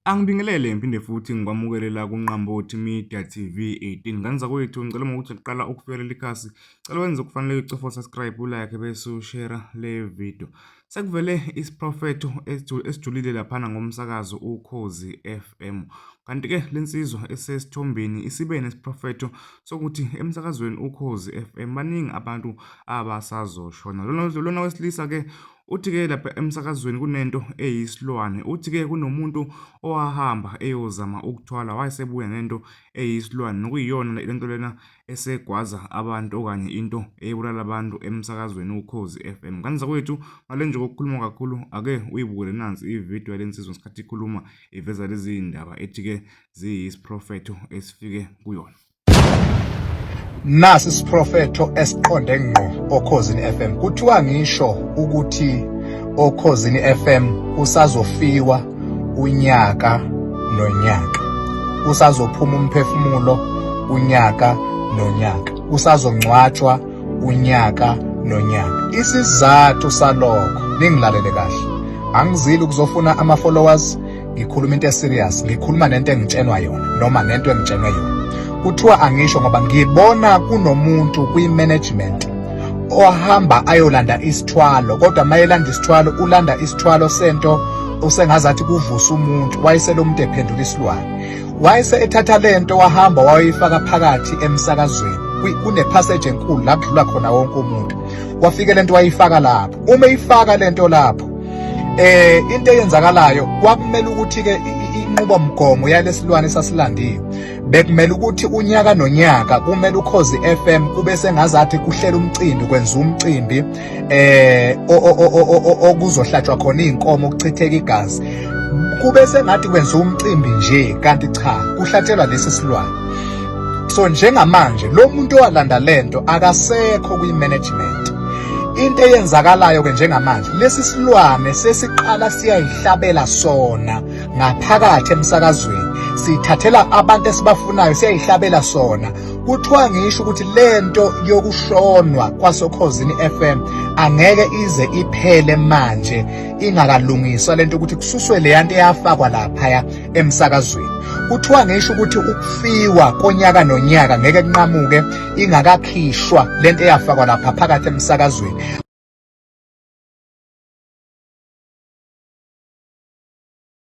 Angibingelele ngiphinde futhi ngikwamukelela kuNqambothi Media TV 18 ngane zakwethu ngicela uma ukuthi uqala ukufika leli khasi cela wenze okufanele ucofa subscribe ulike bese ushare le video sekuvele isiprofetho esijulile laphana ngomsakazo ukhozi FM kanti ke lensizwa esesithombeni isibe nesiprofetho sokuthi emsakazweni ukhozi FM baningi abantu abasazoshona lona wesilisa ke Uthi-ke lapha emsakazweni kunento eyisilwane. Uthi-ke kunomuntu owahamba eyozama ukuthwala wayesebuya nento eyisilwane nokuyiyona le nto lena esegwaza abantu okanye into eyibulala abantu emsakazweni uKhozi FM. Ngane zakwethu ngale nje kokukhuluma kakhulu ake uyibukele nansi ividiyo yale nsizwa ngesikhathi ikhuluma iveza lezi ndaba ethi-ke ziyisiprofetho esifike kuyona. Nasi isiprofetho esiqonde ngqo oKhozini FM. Kuthiwa ngisho ukuthi oKhozini FM usazofiwa unyaka nonyaka. Usazophuma umphefumulo unyaka nonyaka. Usazongcwatshwa unyaka nonyaka. Isizathu salokho ningilalele kahle. Angizili ukuzofuna ama followers ngikhuluma into eserious ngikhuluma nento engitshenwa yona noma nento engitshenwe yona kuthiwa angisho ngoba ngibona kunomuntu kwi-management ohamba ayolanda isithwalo kodwa mayelanda isithwalo ulanda isithwalo sento usengazathi kuvusa umuntu wayesele umuntu ephendula isilwane wayese ethatha lento wahamba wayifaka phakathi emsakazweni kunephaseji enkulu la kudlula khona wonke umuntu wafike lento wayifaka lapho uma ifaka lento lapho eh into eyenzakalayo kwakumele ukuthi ke inqubomgomo yalesilwane sasilandiwe bekumele ukuthi unyaka nonyaka kumele ukhozi FM kube sengazathi kuhlela umcimbi kwenza umcimbi eh okuzohlatshwa khona izinkomo kuchitheka igazi kube sengathi kwenza umcimbi nje kanti cha kuhlatshelwa lesi silwane so njengamanje lo muntu owalanda lento akasekho kwi management Into eyenzakalayo ke njengamanje lesi silwane sesiqala siyayihlabela sona ngaphakathi emsakazweni sithathela abantu esibafunayo siyayihlabela sona kuthiwa ngisho ukuthi lento yokushonwa kwasokhozini FM angeke ize iphele manje ingakalungiswa lento ukuthi kususwe leyanto eyafakwa lapha emsakazweni kuthiwa ngisho ukuthi ukufiwa konyaka nonyaka ngeke kunqamuke ingakakhishwa lento eyafakwa lapha phakathi emsakazweni